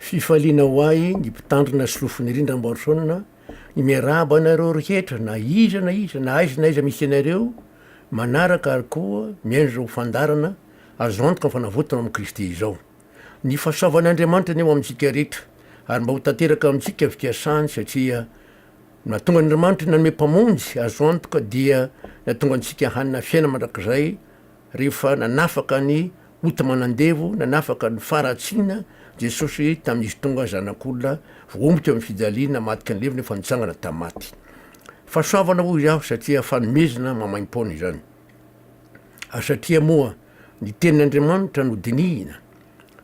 Fifaliana ho ahy ny mpitandrina sy lofony rindrambo Harson ny miarahaba anareo rehetra na iza na iza na aiza na aiza misy anareo manaraka ary koa miaina izao fandaharana azo antoka fa navotona amin'i Kristy izao. Ny fahasoavan'Andriamanitra anie ho amintsika rehetra ary mba ho tanteraka amintsika ny fikasany satria no nahatonga an'Andriamanitra nanome Mpamonjy azo antoka dia nahatonga antsika hanana fiaina mandrakizay Rehefa nanafaka ny ota manandevo, nanafaka ny faharatsiana, Jesosy tamin'izy tonga Zanak'olona voaomby teo amin'ny fijaliana hamadiky ny levona efa nitsangana tamin'ny maty. Fahasoavana hoy aho satria fanomezana maimaim-poana izany. Ary satria moa ny Tenin'Andriamanitra no dinihina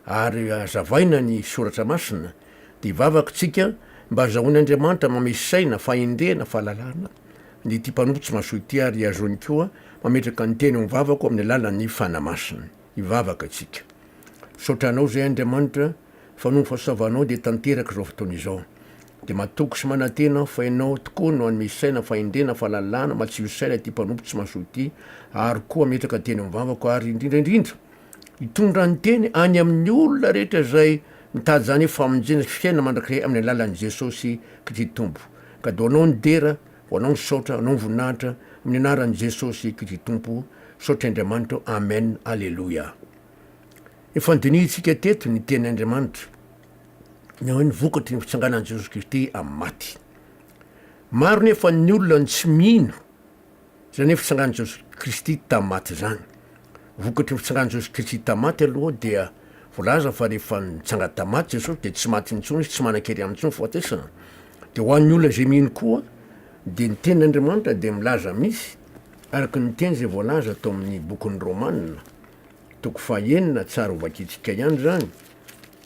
ary hazavaina ny Soratra Masina, dia vavak'tsika mba hazahoan'Andriamanitra manome saina, fahendrena, fahalalana, Dia ity mpanompo tsy mahasoa ity ary hazony koa mametraka ny teny ao am-bavako amin'ny alalan'ny Fanahy Masina. Hivavaka isika. Misaotra Anao izay Andriamanitra fa noho ny fahasoavanao dia tanteraka izao fotoana izao. Dia matoky sy manantena aho fa Ianao tokoa no hanome saina, fahendrena, fahalalana, matsilo saina ity mpanompo tsy mahasoa ity ary koa hametraka teny ao am-bavako ary indrindra indrindra, Hitondra ny teny any amin'ny olona rehetra izay mitady izany famonjena sy fiainana mandrakizay amin'ny alalan'i Jesosy Kristy Tompo. Ka do anao ny dera, ho anao ny saotra, anao ny voninahitra, amin'ny anaran'i Jesosy Kristy Tompo, saotra Andriamanitro, Amen, Aleloia. Efa nodinihintsika teto ny teny Andriamanitra, ny hoe ny vokatry ny fitsanganan'i Jesosy Kristy amin'ny maty. Maro nefa ny olona no tsy mino Izany hoe fitsangan'i Jesosy Kristy tamin'ny maty izany. Vokatry ny fitsangan'i Jesosy Kristy tamin'ny maty aloha dia voalaza fa rehefa nitsanga tamin'ny maty Jesosy dia tsy maty intsony izy, tsy manan-kery aminy intsony ny fahatesana. Dia ho an'ny olona izay mino koa dia ny tenin'Andriamanitra dia milaza misy araka ny teny izay voalaza tao amin'ny bokin'ny Romana, toko faha enina, tsara ho vakintsika ihany izany,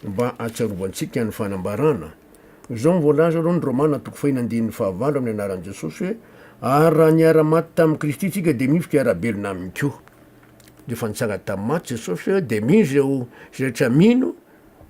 Mba hatsiarovantsika ny fanambarana. Izao no voalaza aloha ny Romana toko fahiny andininy fahavalo amin'ny anaran'i Jesosy hoe, Ary raha niara-maty tamin'i Kristy isika dia mihizo ka hiara-belona aminy koa. Rehefa nitsanga tamin'ny maty Jesosy dia mino izay ho izay rehetra mino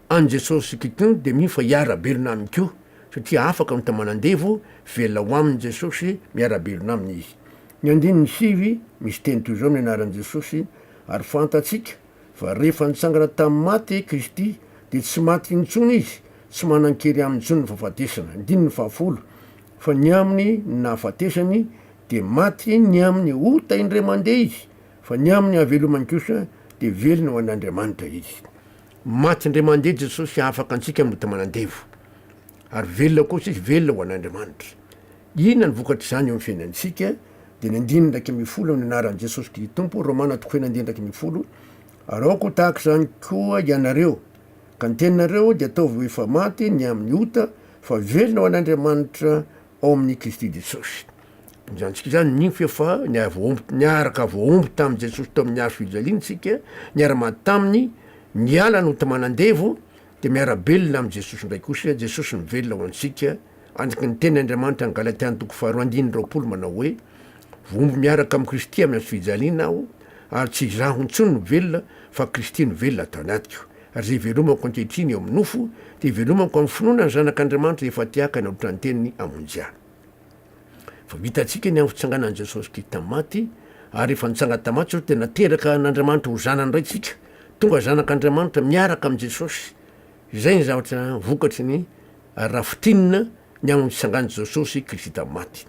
an'i Jesosy Kito dia mino fa hiara-belona aminy koa satria afaka ny taman'andevo velona ho aminy Jesosy miara-belona aminy izy. Ny andininy sivy misy teny toy izao amin'ny anaran'i Jesosy ary fantatsika Fa rehefa nitsangana tamin'ny maty i Kristy, dia tsy maty intsony izy, tsy manan-kery aminy intsony ny fahafatesana, andininy fahafolo, fa ny amin'ny nahafatesany dia maty ny amin'ny ota indray mandeha izy, fa ny amin'ny hahavelomany kosa dia velona ho an'Andriamanitra izy. Maty indray mandeha Jesosy hahafaka antsika amin'ny ota manandevo, ary velona kosa izy, velona ho an'Andriamanitra. Inona ny vokatr'izany eo amin'ny fiainantsika? Dia ny andininy iraika ambin'ny folo amin'ny anaran'i Jesosy Kristy Tompo, Romana toko fahenina andininy iraika ambin'ny folo, Araoka ho tahaka izany koa ianareo, ka ny teninareo dia ataovy ho efa maty ny amin'ny ota, fa velona ho an'Andriamanitra ao amin'i Kristy Jesosy. Ampijanontsika izany ny fo fa niara-voaomby, niaraka voaomby tamin'i Jesosy tao amin'ny hazo fijaliana isika, niara-maty taminy, niala notiman'andevo, Dia miara-belona amin'i Jesosy indray kosa, Jesosy mivelona ho antsika, andraky ny teny Andriamanitra any Galatiana toko faharoa andininy roapolo manao hoe, Vohombo miaraka amin'i Kristy amin'ny hazo fijaliana aho, ary tsy izaho intsony no velona, fa Kristy no velona ato anatiko. Ary izay ivelomako ankehitriny eo amin'ny nofo, dia ivelomako amin'ny finoana ny Zanak'Andriamanitra efa tiakany aotra ny teniny hamonjy ahy. Efa vitantsika ny amin'ny fitsanganan'i Jesosy Kristy tamin'ny maty, ary rehefa nitsanga tamin'ny maty Jesosy dia nateraka an'Andriamanitra ho zanany indray isika. Tonga zanak'Andriamanitra miaraka amin'i Jesosy. Izay ny zavatra vokatry ny raha fintinina ny amin'ny fitsangan'i Jesosy Kristy tamin'ny maty.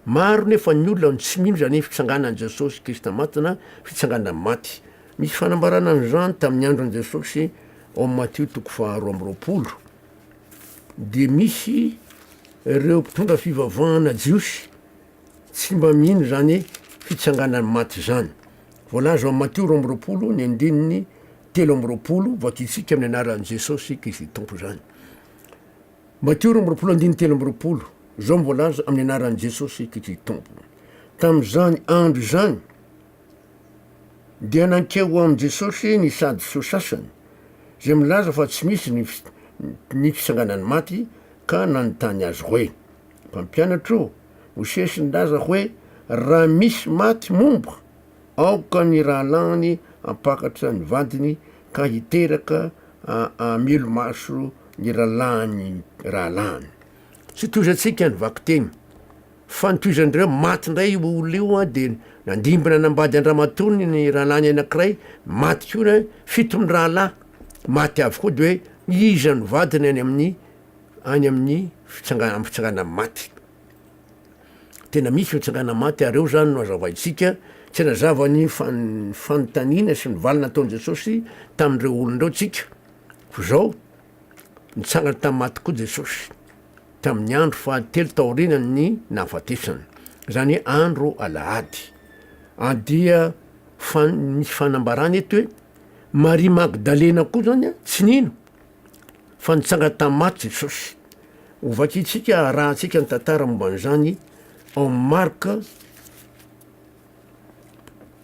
Maro nefa ny olona no tsy mino izany fitsanganan'i Jesosy Kristy tamin'ny maty na fitsanganana amin'ny maty. Misy fanambarana an'izany tamin'ny andron'i Jesosy ao amin'ny Matio toko faharoa amby roapolo. dia misy ireo mpitondra fivavahana jiosy tsy mba mino izany fitsanganan'ny maty izany. Voalaza ao amin'ny Matio roa amby roapolo ny andininy telo amby roapolo, Vakitsika amin'ny anaran'i Jesosy Kristy Tompo izany. Matio roa amby roapolo andininy telo amby roapolo, izao no voalaza amin'ny anaran'i Jesosy Kristy Tompo. Tamin'izany andro izany, Dia nankeo ho amin'i Jesosy ny Sadiseho sasany, izay milaza fa tsy misy ny ny fitsanganan'ny maty, ka nanontany Azy hoe, Mpampianatra o, Mosesy nilaza hoe raha misy maty momba, aoka ny rahalahiny hampakatra ny vadiny ka hiteraka hamelomaso ny rahalahiny rahalahiny. Tsy toy izay antsika ny vakiteny. Fa notohizan'ireo maty indray io olona io an, dia nandimbina hanambady an-dramatoany ny rahalahiny anankiray maty koa ny fito mirahalahy maty avokoa dia hoe iza no vadiny any amin'ny any amin'ny fitsangana amin'ny fitsangana maty. Tena misy ny fitsangana maty ary eo zany no azavaintsika tsy nazava ny fanontaniana sy ny valiny nataon'i Jesosy tamin'ireo olona ireo tsika f'izao Nitsangana tamin'ny maty koa Jesosy, tamin'ny andro fahatelo taorianan'ny nahafatesana, izany hoe andro alahady. Ary dia fan, misy fanambarana eto hoe Maria Magdalena koa izany tsy nino fa nitsangana tamin'ny maty Jesosy. Hovakintsika, harahantsika ny tantara momba an'izany ao amin'ny Marka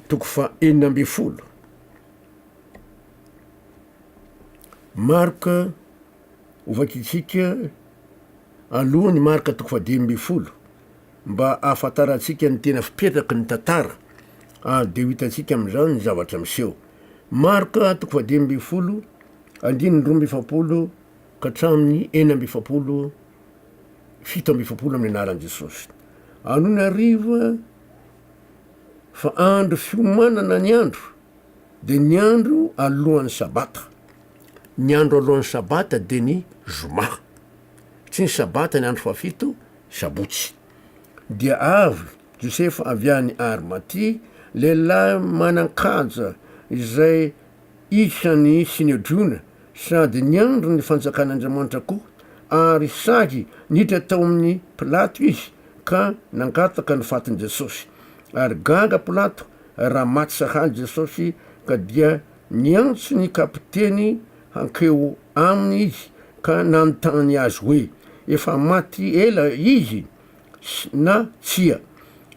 toko faha enina ambin'ny folo. Marka, Hovakintsika aloha ny marka toko fahadimy ambin'ny folo mba hahafantarantsika ny tena fipetraky ny tantara ary dia ho hitantsika amin'izany ny zavatra miseho. Marka toko fahadimy ambin'ny folo, andininy roa amby efapolo ka hatramin'ny enina amby efapolo, fito amby efapolo amin'ny anaran'i Jesosy. Anony hariva, fa andro fiomanana ny andro dia ny andro alohan'ny sabata. Ny andro alohan'ny sabata dia ny zoma. Tsy ny sabata ny andro fahafito, sabotsy. Dia avy Josefa avy any Arimatia, lehilahy manan-kaja izay Isan'ny Synedriona sady niandry ny Fanjakan'Andriamanitra koa, ary sahy niditra tao amin'i Pilato izy ka nangataka ny fatin'i Jesosy. Ary gaga Pilato raha maty sahala i Jesosy, ka dia niantso ny kapiteny hankeo aminy izy ka nanontany azy hoe, Efa maty ela izy? na tsia.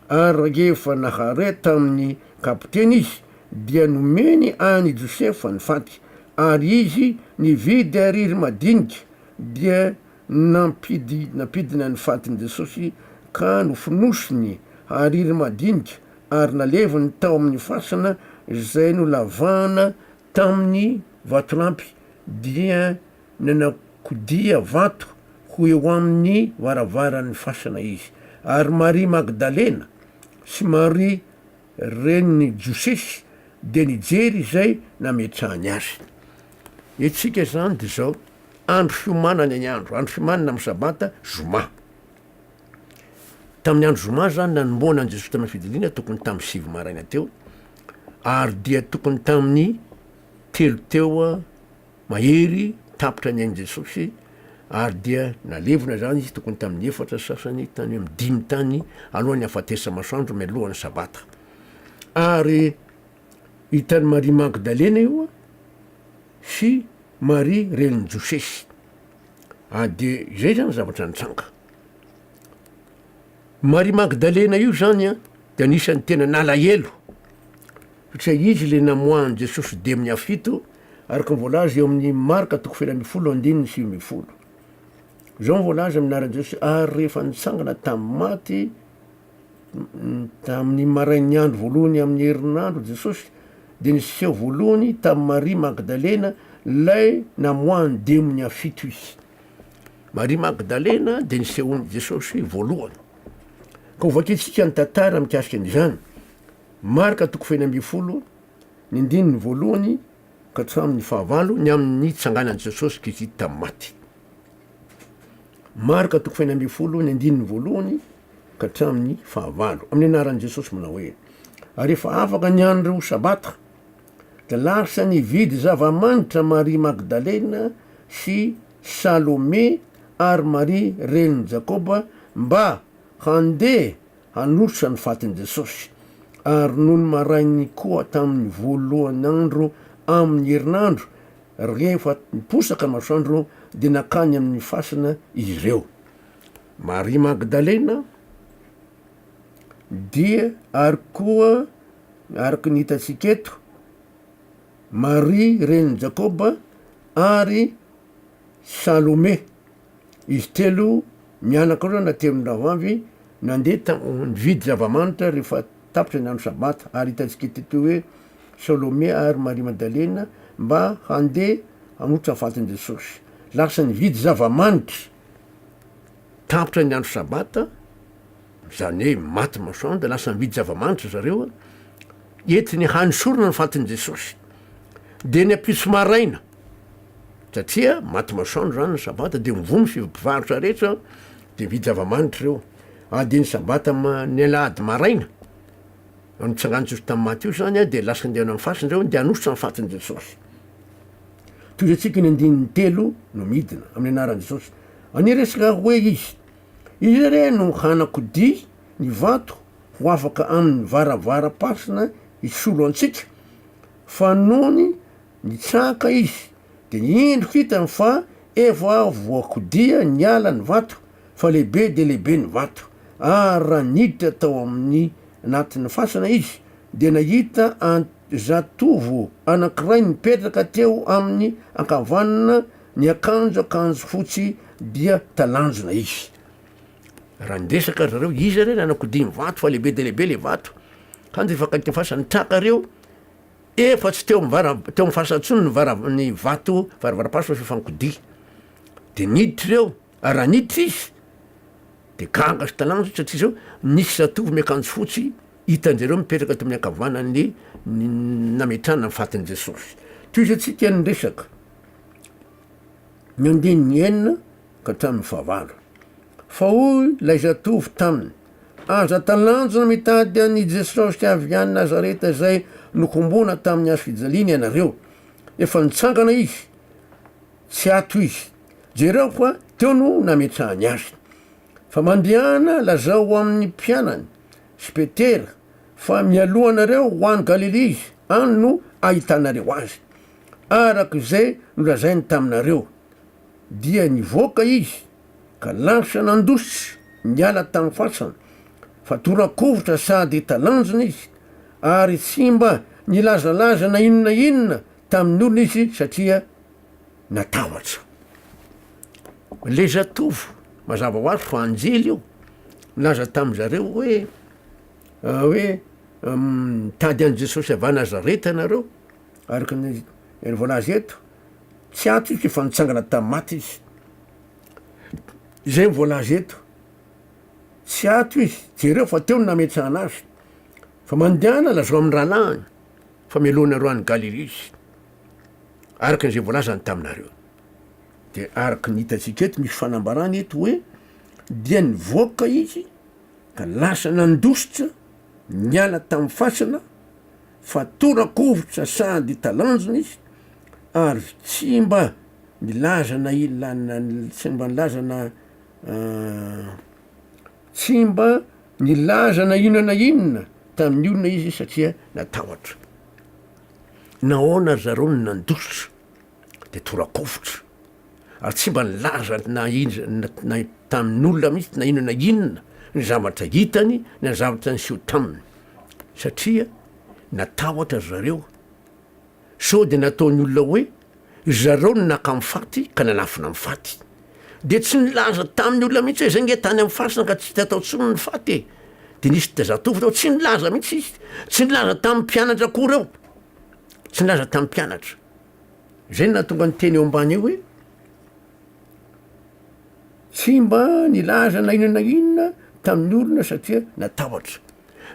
Ary rahefa nahare tamin'ny kapiteny izy, dia nomeny an'i Josefa ny faty, ary izy nividy ariry madinika, dia nampidina ny fatin'i Jesosy, ka nofonosiny ariry madinika, ary naleviny tao amin'ny fasana izay nolavahana tamin'ny vatolampy, dia Nanakodia vato ho eo amin'ny varavaran'ny fasana izy, ary Maria Magdalena sy Maria renin'i Josesy dia nijery izay nametrahany azy. Ny antsika izany dia izao, andro fiomanana ny andro, andro fiomanana amin'ny sabata, zoma. Tamin'ny andro zoma izany nanomboana an'i Jesosy tamin'ny fijiliana, tokony tamin'ny sivy maraina teo, ary dia tokony tamin'ny telo teo, Mahery tapitra ny ain'i Jesosy, ary dia nalevina izany izy tokony tamin'ny efatra sy sasany tany amin'ny dimy tany alohan'ny hafatesa-masoandro mialohan'ny Sabata. Ary hitan'i Maria Magdalena io sy Maria renin'i Josesy. Ary dia izay izany zavatra nitranga. Maria Magdalena io zany a de anisan'ny tena nalahelo satria izy le namoahan'i Jesosy demony afito araka ny voalaza eo amin'ny Marka toko feno ambin'ny folo andininy sivy ambin'ny folo. Zao ny voalaza amin'ny anaran'i Jesosy ary rehefa nitsangana tamin'ny maty tamin'ny marain'ny andro voalohany amin'ny herinandro Jesosy de niseho voalohany tamin'i Maria Magdalena lay namoahan'ny demony afito izy. Maria Magdalena dia nisehoan'i Jesosy voalohany. Ka ho vakintsika ny tantara mikasika an'izany, Marka toko fahiny ambin'ny folo, ny andininy voalohany ka hatramin'ny fahavalo, ny amin'ny nitsanganan'i Jesosy Kristy tamin'ny maty. Marka toko fahiny ambin'ny folo, ny andininy voalohany ka hatramin'ny fahavalo, amin'ny anaran'i Jesosy manao hoe, Ary efa afaka ny andro sabata, Dia lasa nividy zava-manitra Maria Magdalena sy Salome ary Maria renin'i Jakoba mba handeha hanolotra ny fatin'i Jesosy. Ary nony maraininy koa tamin'ny voalohany andro amin'ny herinandro, rehefa niposaka masoandro, dia nankany amin'ny fasana izy ireo. Maria Magdalena. dia ary koa araka ny hitantsika eto, Maria renin'i Jakôba ary Salome, izy telo mianaka ireo na telon'ny rahavavy nandeha ta- nividy zava-manitra rehefa tapitra ny andro sabata ary hitantsika eto eto hoe Salome ary Maria Madalena mba handeha hanolotra fatin'i Jesosy, lasa nividy zava-manitra. Tapitra ny andro Sabata, izany hoe maty masoandro, dia lasa mividy zava-manitra zareo entiny hanesorana ny fatin'i Jesosy. Dia ny ampitso maraina, satria maty masoandro izany ny Sabata, dia mivoha ny fiv- mpivarotra rehetra, dia mividy zava-manitra ireo. Ary dia ny Sabata ma- ny alahady maraina, no nitsangan'i Jesosy tamin'ny maty io izany, dia lasa handeha hanao ny fasiny zareo handeha hanositra ny fatin'i Jesosy. Toy izay antsika ny andininy telo no midina amin'ny anaran'i Jesosy. Niresaka hoe izy, Izy re no hanakodia ny vato ho afaka amin'ny varavaram-pasina hisolo antsika, fa nony nitsahaka izy, dia indro hitany fa efa voakodia niala ny vato, fa lehibe dia lehibe ny vato. Ary raha niditra tao amin'ny anatin'ny fasana izy, dia nahita an-jatovo anankiray mipetraka teo amin'ny ankavanana, Niakanjo akanjo fotsy dia talanjona izy. Raha niresaka ry zareo, iza re nanakodiny vato fa lehibe dia lehibe le vato. Kanjo efa akaiky ny fasana. Ny traka reo efa tsy teo am'vara- teo am'fasana intsony ny vara- ny vato varavaram-paso fa f'efa nikodia. De niditra ireo, ary raha niditra izy de gaga sy talanjona satria zao nisy zatovo miakanjo fotsy hitan-jareo mipetraka ato amin'ny ankavanan'ny ny nametrahana ny fatin'i Jesosy. Tohizo antsika ny resaka. ny andininy enina ka hatramin'ny fahavalo. Fa hoy ilay zatovo taminy, Aza talanjona mitady an'i Jesosy avy any Nazareta izay nokombona tamin'ny hazo fijaliana ianareo. Efa nitsangana izy, tsy ato izy. Jereo fa teo no nametrahany azy. Fa mandehana lazao ho amin'ny mpianany sy Petera fa mialoha anareo ho any Galilia izy, any no ahitanareo azy. Araka izay nolazainy taminareo, dia nivoaka izy ka lasa nandositra niala tamin'ny fasana, fa tora-kovitra sady talanjona izy, ary tsy mba nilazalaza na inona na inona tamin'ny olona izy satria natahotra. Ilay zatovo, mazava ho azy fa anjely io, nilaza tamin-dry zareo hoe, hoe, Mitady an'i Jesosy avy any Nazareta ianareo, Araka ny voalaza eto, tsy antitra izy io fa nitsangana tamin'ny maty izy. Izay voalaza eto, tsy ato izy, jereo fa teo ny nametsahana azy. Fa mandehana lazao amin'ny rahalahiny fa melohinareo any Galilia izy, araka izay voalazany taminareo. Dia araka ny hitantsika eto, misy fanambarana eto hoe dia nivoaka izy ka lasa nandositra niala tamin'ny fasana, fa tora-kovitra sady talanjona izy ary tsy mba nilaza na ila na tsy mba nilaza na tsy mba nilaza na inona na inona tamin'ny olona izy satria natahotra. Nahoana ry zareo no nandositra? dia torakovitra ary tsy mba nilaza na inona tamin'olona mihitsy na inona na inona ny zavatra hitany na zavatra niseho taminy satria natahotra ry zareo sao dia nataon'ny olona hoe ry zareo no naka amin'ny faty ka nanafina amin'ny faty dia tsy nilaza tamin'ny olona mihitsy hoe izay nge tany amin'ny fasina ka tsy hita tao intsony ny faty e dia nisy dia zatovo tao tsy nilaza mihitsy izy tsy nilaza tamin'ny mpianatra akory eo tsy nilaza tamin'ny mpianatra Zay no nahatonga ny teny eo ambany eo hoe, tsy mba nilaza na inona na inona tamin'ny olona satria natahotra.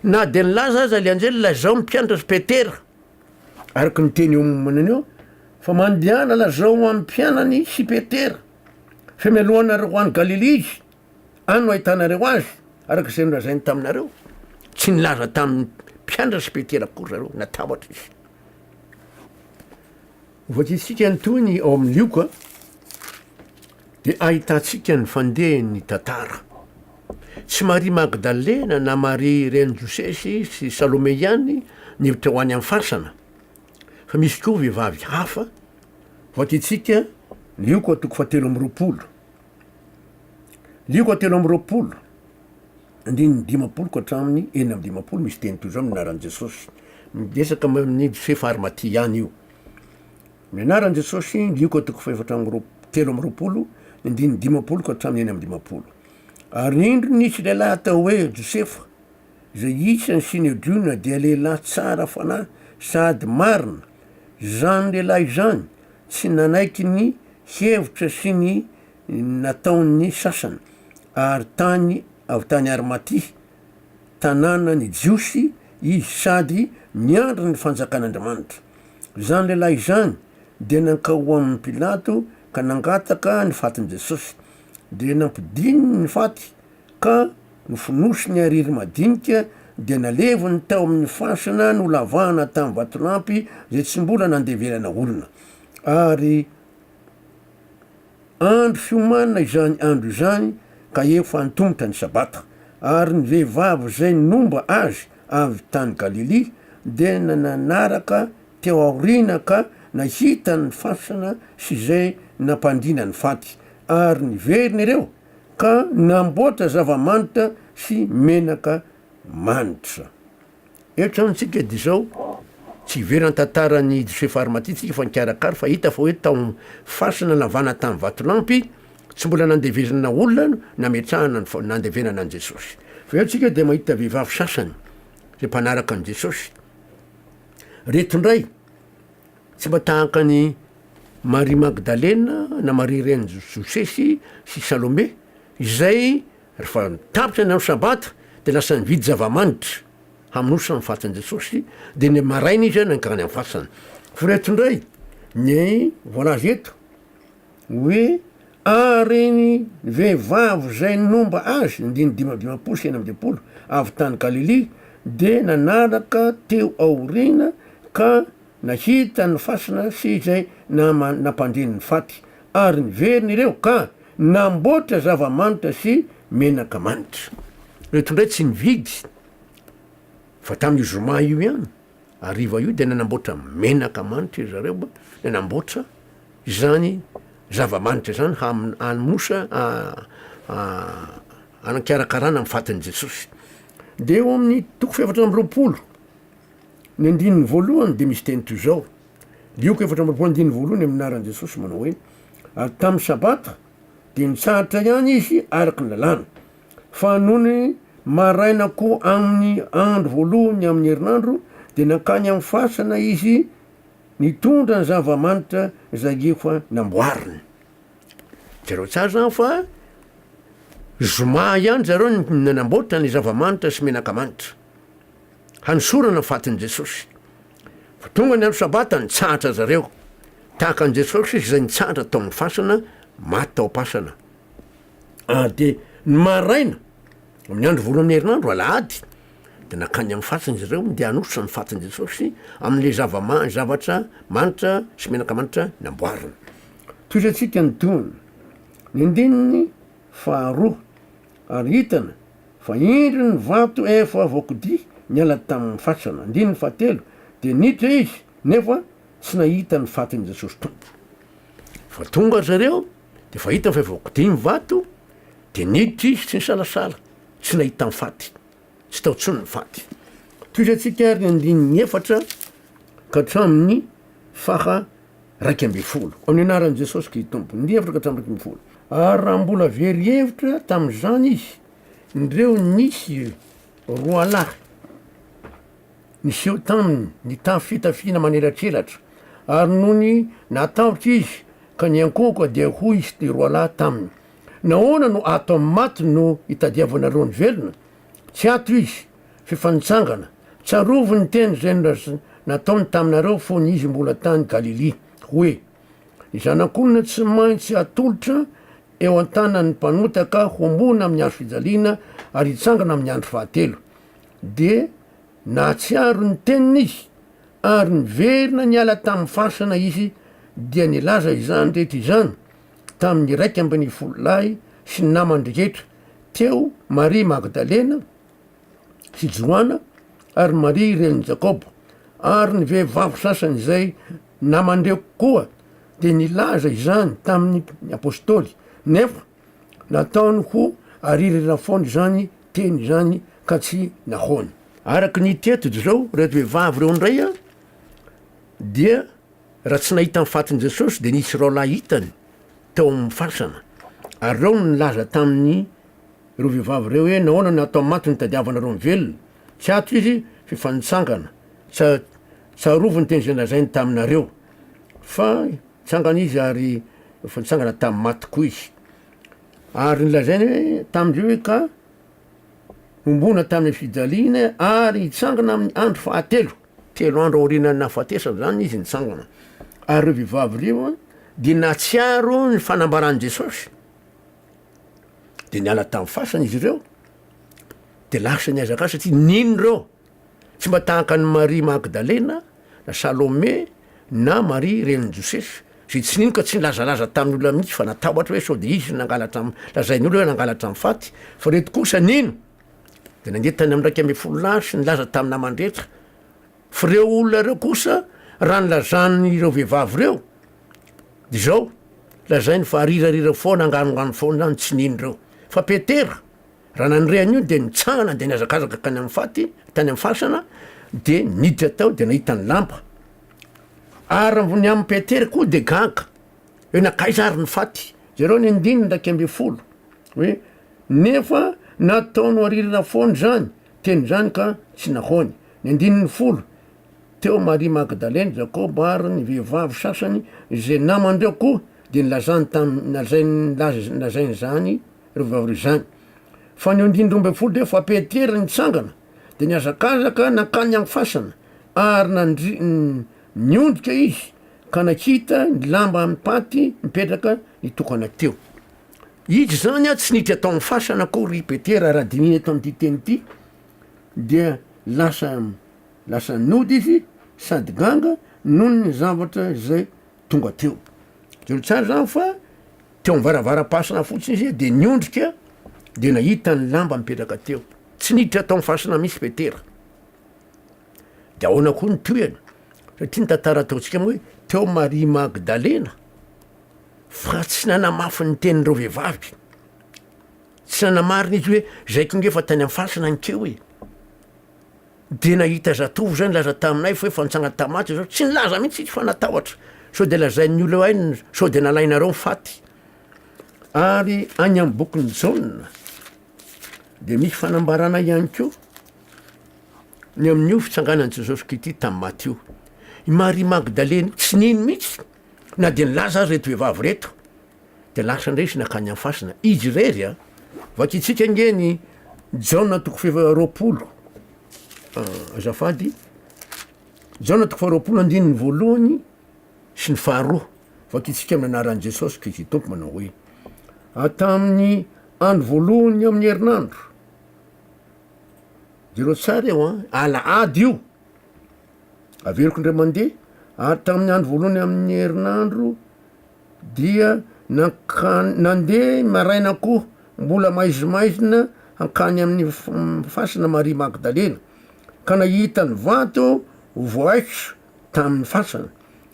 Na dia nilaza aza ilay anjely, lazao ny mpianatra Petera, araka ny teny eo ambany eo, fa mandehana lazao amin'ny mpianany sy Petera, fa mialoha anareo ho any Galilia izy. Any no ahitanareo azy, araka izay nolazainy taminareo. Tsy nilaza tamin'ny mpianatra sy Petera akory zareo, natahotra izy. Hovakiantsika ny tohiny ao amin'ny Lioka, dia ahitantsika ny fandehan'ny tantara. Tsy Maria Magdalena na Maria renin'i Josesy sy Salome ihany no teo any amin'ny fasana, fa misy koa vehivavy hafa. Hovakiantsika Lioka toko fahatelo amby roapolo. Lioko telo amby roapolo andininy dimampolo ka hatramin'ny enina amby dimampolo misy teny toy izao amin'ny anaran'i Jesosy. Miresaka amin'ny fefy ary maty ihany io. Ny anaran'i Jesosy, Lioko toko fahefatra amby roa- telo amby roapolo andininy dimampolo ka hatramin'ny enina amby dimampolo. Ary indro nisy lehilahy atao hoe Josefa, Izay isan'ny Synedriona dia lehilahy tsara fanahy sady marina. Izany lehilahy izany tsy nanaiky ny hevitra sy ny nataon'ny sasany, ary tany avy tany Arimatia, tanànan'ny Jiosy, izy sady miandry ny Fanjakan'Andriamanitra. Izany lehilahy izany dia nankao ho amin'i Pilato ka nangataka ny fatin'i Jesosy. Dia nampidininy ny faty. Ka nofonosiny ariry madinika dia naleviny tao amin'ny fasana nolavahana tamin'ny vatolampy izay tsy mbola nandeverana olona. Ary andro fiomanana izany andro izany ka efa antomotra ny Sabata. Ary ny vehivavy izay nomba Azy avy tany Galilia dia nanaraka teo aoriana ka nahita ny fasana sy izay nampandriana ny faty, ary niverina ireo. ka namboatra zava-manitra sy menaka manitra. Eto zany tsika de zao tsy hivery an-tantaran'i Josefa Arimatia tsika fa nikarakara fa hita fa hoe tao fasana navana tany Vatolampy tsy mbola nandevezana olona nametrahana ny nandevenana an'i Jesosy. Fa eo tsika de mahita vehivavy sasany zay mpanaraka an'i Jesosy. Reto ndray. Tsy mba tahaka an'i Maria Magdalena na Maria renin'i Josesy sy Salome, izay rehefa tapitra ny andro Sabata dia lasa nividy zava-manitra hamonosa amin'ny fatin'i Jesosy, dia ny maraina izy nankany amin'ny fasana. Fa ireto indray ny voalaza eto. Hoe ah reny vehivavy izay nomba azy, andininy dimy amby dimampolo sy enina amby dimampolo, avy tany Galilia, dia nanaraka teo aoriana ka nahita ny fasina sy izay namany nampandre ny faty, ary niverina ireo ka namboatra zava-manitra sy menaka manitra. Ireto indray tsy nividy fa tamin'io zoma io ihany. Hariva io dia nanamboatra menaka manitra iry zareo mba nanamboatra izany zava-manitra izany hamonosa hanakarakarana amin'ny fatin'i Jesosy. Dia eo amin'ny toko fefatra amby roapolo ny andininy voalohany dia misy teny toy izao, Lioko efatra amby roapolo andininy voalohany amin'ny anaran'i Jesosy manao hoe, ary tamin'ny sabata dia nitsahatra ihany izy araka ny lalàna. Fa nony maraina koa amin'ny andro voalohany amin'ny herinandro, dia nankany amin'ny fasana izy, nitondra ny zava-manitra izay efa namboariny. Jereo tsara izany fa zoma ihany zareo no nanamboatra ny zava-manitra sy menaka manitra, hanosorana ny fatin'i Jesosy. Fa tonga ny andro sabata, nitsahatra zareo, tahaka an'i Jesosy izay nitsahatra tao amin'ny fasana, maty tao am-pasana. ary de ny maraina amin'ny andro voalohan'ny herinandro alahady de nankany amin'ny fatin' izy ireo ndeha hanositra ny fatin'i Jesosy amin'le zava-ma- zavatra manitra sy menaka manitra namboariny. Tohizo antsika ny tohiny, ny andininy faharoa, ary hitana fa indro ny vato efa voakodia niala tamin'ny fasana, andininy fahatelo, dia niditra izy nefa tsy nahita ny fatin'i Jesosy Tompo, fa tonga ry zareo Dia vao hitany fa voakodia ny vato, dia niditra izy tsy nisalasala, tsy nahita ny faty, tsy tao intsony ny faty. Tohizantsika ary ny andininy efatra ka hatramin'ny faha iraika ambin'ny folo. Amin'ny anaran'i Jesosy Kristy Tompo, andininy efatra ka hatramin'ny iraika ambin'ny folo. Ary raha mbola very hevitra tamin'izany izy, indreo nisy roalahy, Niseho taminy ny tafo fitafiana manelatrelatra, ary nony natahotra izy ka niankohoka dia hoy izy roalahy taminy, Nahoana no ato amin'ny maty no itadiavanareo ny velona? Tsy ato izy, f'efa nitsangana. Tsarovy ny teny izay nataony taminareo fony izy mbola tany Galilia, hoe, Ny Zanak'olona tsy maintsy hatolotra eo an-tanan'ny mpanota ka homboana amin'ny hazofijaliana ary hitsangana amin'ny andro fahatelo. dia nahatsiaro ny teniny izy ary niverina niala tamin'ny fasana izy dia nilaza izany rehetra izany tamin'ny iraika ambin'ny folo lahy sy ny namany rehetra, teo Maria Magdalena sy Joana ary Maria renin'i Jakoba, ary ny vehivavy sasany izay naman'ireo koa dia nilaza izany tamin'ny apostoly, nefa Nataony ho aririra foana izany teny izany ka tsy nahoany. Araka ny hita eto izao, ireto vehivavy ireo indray dia raha tsy nahita ny fatin'i Jesosy dia nisy rahalahy hitany tao amin'ny fasana ary ireo no nilaza tamin'ireo vehivavy ireo hoe nahoana no atao maty no itadiavanareo ny velona? Tsy ato izy f'efa nitsangana. Tsarovy ny teny izay nolazainy taminareo fa Tsangana izy ary efa nitsangana tamin'ny maty koa izy. Ary nilazainy hoe tamin-dry hoe ka hombona tamin'ny fijaliany ary hitsangana amin'ny andro fahatelo. Telo andro aorianan'ny nahafatesany izany izy nitsangana. Ary ireo vehivavy ireo dia nahatsiaro ny fanambaran'i Jesosy. Dia niala tamin'ny fasana izy ireo, dia lasa nihazakazaka satria nino ireo. Tsy mba tahaka an'i Maria Magdalena na Salome na Maria renin'i Josefa, izay tsy nino ka tsy nilazalaza tamin'ny olona mihitsy fa natahotra hoe sao dia izy no nangalatra, lazain'ny olona hoe nangalatra ny faty, fa ireto kosa nino dia nandeha tany amin'ny iraika ambin'ny folo lahy sy nilaza tamin'ny namany rehetra. Fa ireo olona ireo kosa, raha ny lazan'ireo vehivavy ireo, dia izao, lazainy fa arirarira foana, anganonganona foana ny tsy nino ireo. Fa Petera, Raha nandre an'io dia nitsangana dia nihazakazaka hankany amin'ny faty, tany amin'ny fasana, dia niditra tao dia nahita ny lamba. Ary Ramboniamin'i Petera koa dia gaga, hoe nankaiza ary ny faty? Jereo ny andininy iraika ambin'ny folo, hoe nefa nataony ho aririna foana izany teny izany ka tsy nahoany. Ny andininy folo, teo Maria Magdalena, Jakoba ary ny vehivavy sasany izay naman-dreo koa dia nilazany tam- nalazainy- nilaz- nolazainy izany, roa vao aorian'izany. Fa ny andininy roa ambin'ny folo dia efa Petera nitsangana, dia nihazakazaka nankany amin'ny fasana, ary nandri-, niondrika izy ka nakita ny lamba amin'ny paty mipetraka nitokana teo. Izy izany tsy niditra tao amin'ny fasana akory i Petera, raha dinihina eto amin'ity teny ity, dia lasa, lasa nody izy sady ganga noho ny zavatra izay tonga teo. Telo tsara zany fa teo am varavaram-pasina fotsiny izy de niondrika de nahita ny lamba mipetraka teo. Tsy niditra tao am fasina mihitsy Petera. De ahoana koa ny tohiny? Satria ny tantara ataontsika hoe teo Maria Magdalena fa tsy nanamafy ny tenin'ireo vehivavy. Tsy nanamarina izy hoe zay tonga efa tany am fasina ankeo e. Dia nahita zatovo izay nilaza taminay fa efa nitsanga tamin'ny maty izao, tsy nilaza mihitsy izy fa natahotra sao dia lazain'ny olona eo ainy sao dia nalainareo ny faty. Ary any amin'ny bokin'i Jaona dia misy fanambarana ihany koa ny amin'io fitsanganan'i Jesosy Kristy tamin'ny maty io. I Maria Magdalena tsy nino mihitsy na dia nilaza azy ireto vehivavy ireto. dia lasa indray izy nankany amin'ny fasina. Izy irery a! Vakintsika ange ny Jaona toko fahefa roapolo. Ah, azafady. Jaona toko faharoapolo andininy voalohany sy ny faharoa. Vakintsika amin'ny anaran'i Jesosy Kristy Tompo manao hoe atamin'ny andro voalohany amin'ny herinandro. Jereo tsara eo an, alahady io. Averiko indray mandeha, ary tamin'ny andro voalohany amin'ny herinandro dia nankany nandeha maraina koa mbola maizimaizina hankany amin'ny fasana Maria Magdalena ka nahita ny vato voaikitra tamin'ny fasana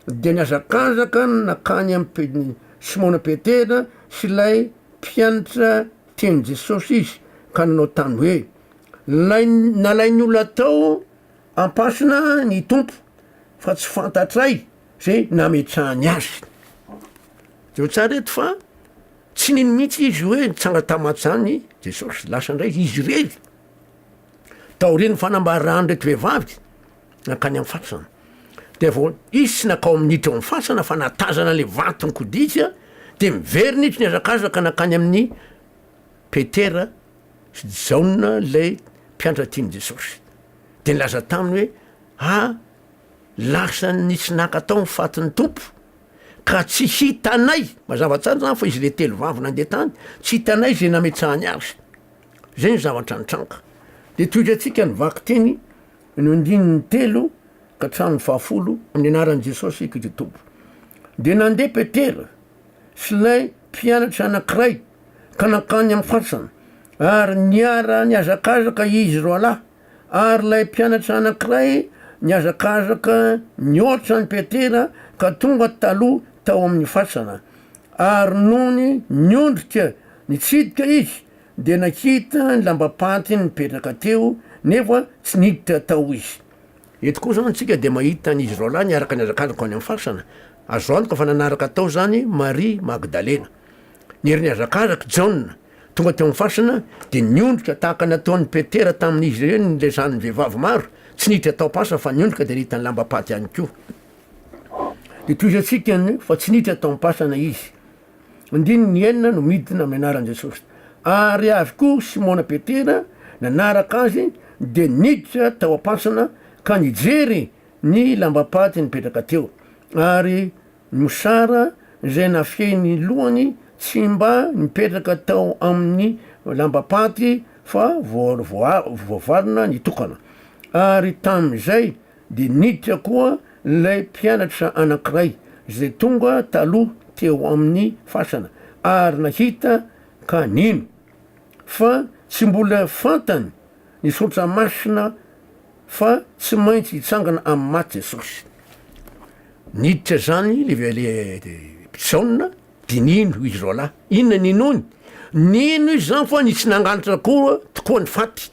dia nihazakazaka nankany amin'ny Simona Petera sy ilay mpianatra tian'i Jesosy izy ka nanao tany hoe Nalay nalain'ny olona tao am-pasana ny Tompo fa tsy fantatray zay nametrahany azy. Jereo tsara eto fa tsy nino mihitsy izy hoe nitsanga tamaty zany Jesosy, lasa indray izy irery taorian'ny fanambaran'ireto vehivavy nankany amin'ny fasana. Dia vao izy tsy nakao minitra ao amin'ny fasana fa natazana le vato nikoditra dia miverina izy nihazakazaka nankany amin'ny Petera sy Jaona ilay mpiantra tian'i Jesosy. Dia nilaza taminy hoe, ah Lasan' ny tsy nankatao ny fatin' ny Tompo, ka tsy hitanay, mazava tsara izany fa izy ilay telo vavy nandeha tany, tsy hitanay izay nametsahany azy. Izay no zavatra nitranga. Dia tohitra antsika ny vakiteny ny andininy telo ka hatramin'ny fahafolo amin'ny anaran'i Jesosy Kristy Tompo. Dia nandeha Petera sy ilay mpianatra anankiray ka nankany amin'ny fasana, ary niara-nihazakazaka izy roalahy. Ary ilay mpianatra anankiray nihazakazaka nihoatra an'i Petera ka tonga taloha tao amin'ny fasana. Ary nony niondrika nitsidika izy, dia nahita ny lambam-pantiny nipetraka teo, nefa tsy niditra tao izy. Eto koa izao antsika dia mahita an'izy roalahy niaraka nihazakazaka any amin'ny fasana. Azo antoka fa nanaraka tao izany Maria Magdalena, ny herin'ny hazakazak'i Jaona. Tonga teo amin'ny fasana, dia niondrika tahaka ny nataon'i Petera tamin'izy ireny ny lesan'ny vehivavy maro, tsy niditra tao am-pasa fa niondrika dia nahita ny lambam-paty ihany koa. Dia tohizo antsika ny fa tsy niditra tao am-pasana izy. Andininy enina no midina amin'ny anaran'i Jesosy. Ary avy koa Simona Petera nanaraka azy dia niditra tao am-pasana ka nijery ny lambam-paty nipetraka teo, ary Mosara izay nafehy ny lohany tsy mba nipetraka tao amin'ny lambam-paty fa voavarina nitokana. Ary tamin'izay dia niditra koa ilay mpianatra anankiray izay tonga taloha teo amin'ny fasana ary nahita ka nino. Fa tsy mbola fantany ny saotra masina fa tsy maintsy hitsangana amin'ny maty Jesosy. Niditra izany le mpisaona dia nino izy roalahy. Inona ny ninoany? Nino izy izany fa nitsy nangalatra koa tokoa ny faty.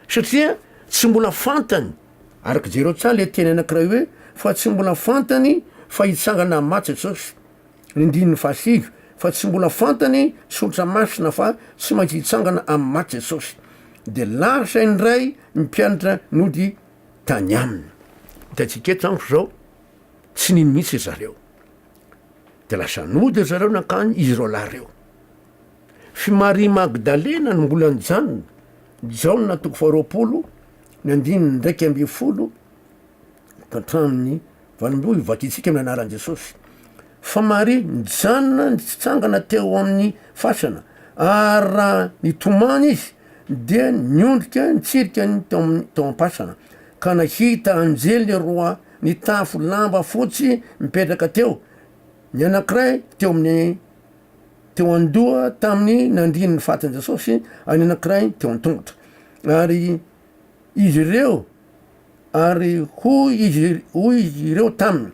Satria tsy mbola fantany, araka jereo tsara le teny anankiray hoe fa tsy mbola fantany fa hitsangana amin'ny maty Jesosy. Ny andininy fahasivy, Fa tsy mbola fantany tsotra masina fa tsy maintsy hitsangana amin'ny maty Jesosy. Dia lasa indray ny mpianatra nody tany Aminy. Hitantsika eto amiko izao, tsy nino mihitsy ry zareo. Dia lasa nody ry zareo nankany izy roalahy ireo. F'i Maria Magdalena no mbola nijanona, Jaona toko faharoapolo, ny andininy iraika ambin'ny folo, hatramin'ny vanim-boa io vakintsika ny anaran'i Jesosy. Fa Maria nijanona nitsitsangana teo amin'ny fasana, ary raha nitomany izy dia niondrika nitsirika ny tao amin'ny tao am-pasana, ka nahita anjely roa nitafy lamba fotsy mipetraka teo, ny anankiray teo amin'ny teo an-doha tamin'ny nandrin'ny fatin'i Jesosy, ary ny anankiray teo an-tongotra. Ary izy ireo Ary hoy izy, hoy izy ireo taminy,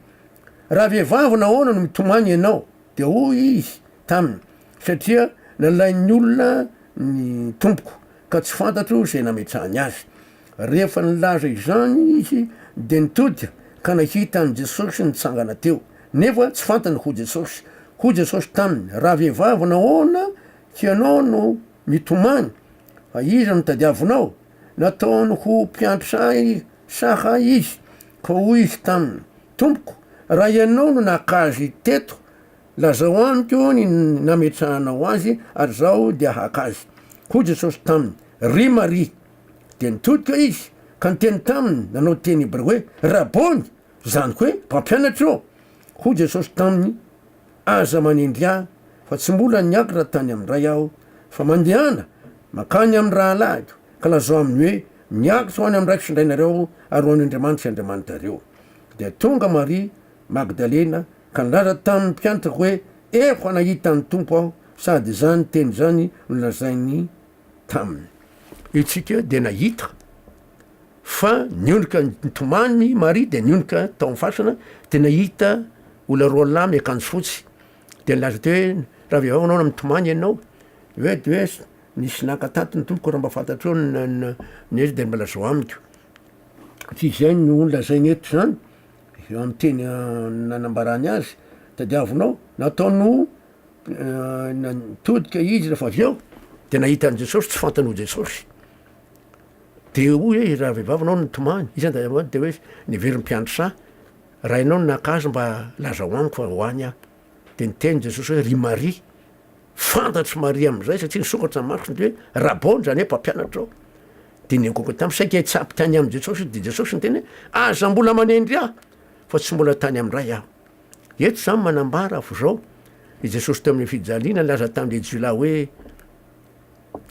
Raha vehivavy nahoana no mitomany ianao? Dia hoy izy taminy, Satria nalain'ny olona ny tompoko, ka tsy fantatro izay nametrahany azy. Rehefa nilaza izany izy, dia nitodika ka nahita an'i Jesosy nitsangana teo, nefa tsy fantany ho Jesosy. Hoy Jesosy taminy, Raha vehivavy nahoana ianao no mitomany? Fa iza no tadiavinao? Nataony ho mpiandry saha izy, ka hoy izy taminy, Tompoko, raha ianao no naka azy teto, lazao amiko ny nametrahanao azy, ary izaho dia haka azy. Hoy Jesosy taminy, Ry Maria! Dia nitodika izy, ka niteny taminy, nanao teny hebreo hoe, Rabôny! Izany koa hoe mpampianatra eo. Hoy Jesosy taminy, Aza manendry Ahy, fa tsy mbola niakatra tany amin'ny Ray Aho, fa mandehana mankany amin'ny rahalahiko, ka lazao aminy hoe, Miakatra ho any amin'ny Raiko sy Ray nareo, ary ho any Andriamanitro sy Andriamanitrareo. Dia tonga Maria Magdalena, ka nilaza tamin'ny mpiantrako hoe, Efa nahita ny Tompo aho, sady izany teny izany nolazainy taminy. Isika dia nahita. fa nionoka nitomany i Maria dia nionoka tao amin'ny fasana dia nahita olona roa lahy miakanjo fotsy dia nilaza teo hoe raha vehivavy ianao na mitomany ianao hoe de hoe nisy naka tato ny tompoko raha mba fantatrao ny dia mba lazao amiko tsy izay no nolazainy eto izany amin'ny teny nanambarany azy tadiavinao nataony ho nitodika izy rehefa avy eo dia nahita an'i Jesosy tsy fantany ho Jesosy Dia hoy e raha vehivavy ianao no tomany, iza ndray aloha, dia hoe niveriny mpiandry saha, raha ianao no naka azy mba lazao amiko fa ho any aho. Dia niteny Jesosy hoe ry Maria. Fantatr'i Maria amin'izay satria nisokatra ny masony dia hoe Rabony, izany hoe mpampianatrao. Dia niangoaka taminy, saika hitsabo tany amin'i Jesosy izy, dia Jesosy niteny hoe aza mbola manendry ahy fa tsy mbola tany amin'ny Ray aho. Eto izany manambara f'izao i Jesosy teo amin'ny fijaliana nilaza tamin'ilay jiolahy hoe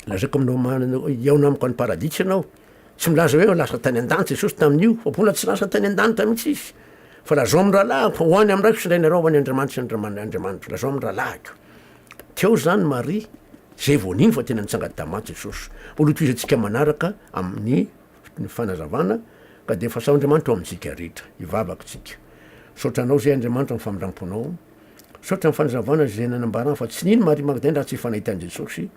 Lazaiko aminao marina hoe hihaona amiko any paradisa ianao. Tsy milaza hoe lasa tany an-danitra Jesosy tamin'io, fa mbola tsy lasa tany an-danitra mihitsy izy. Fa lazao amin'ny rahalahiko fa ho any amin'ny raiko sy indray nareo ho any Andriamanitra sy Andriamanitro. Lazao amin'ny rahalahiko. Teo izany Maria, izay vao nino fa tena nitsanga tamin-damaty Jesosy. Mbola hotohizantsika manaraka amin'ny fanazavana, ka dia fasan'Andriamanitra ho amintsika rehetra. Hivavaka isika. Misaotra Anao izay Andriamanitra amin'ny famindram-ponao. Misaotra amin'ny fanazavana izay nanambarana fa tsy nino Maria Magdalena raha tsy efa nahita an'i Jesosy.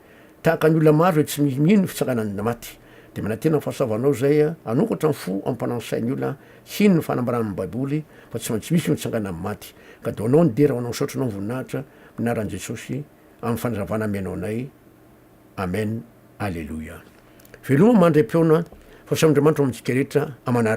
Tahaka ny olona maro izay tsy mino ny fitsangana ny maty. Dia manantena ny fahasoavanao izay hanokatra ny fo ampanano sain'ny olona hino ny fanambaran'ny baiboly fa tsy maintsy misy ny fitsangana amin'ny maty. Ka dia ho anao ny dera ho anao misaotra anao ny voninahitra amin'ny anaran'i Jesosy amin'ny fanazavana amenao anay Amen Aleloia Veloma mandry am-peona fa samy Andriamanitra ao amintsika rehetra aman'araka.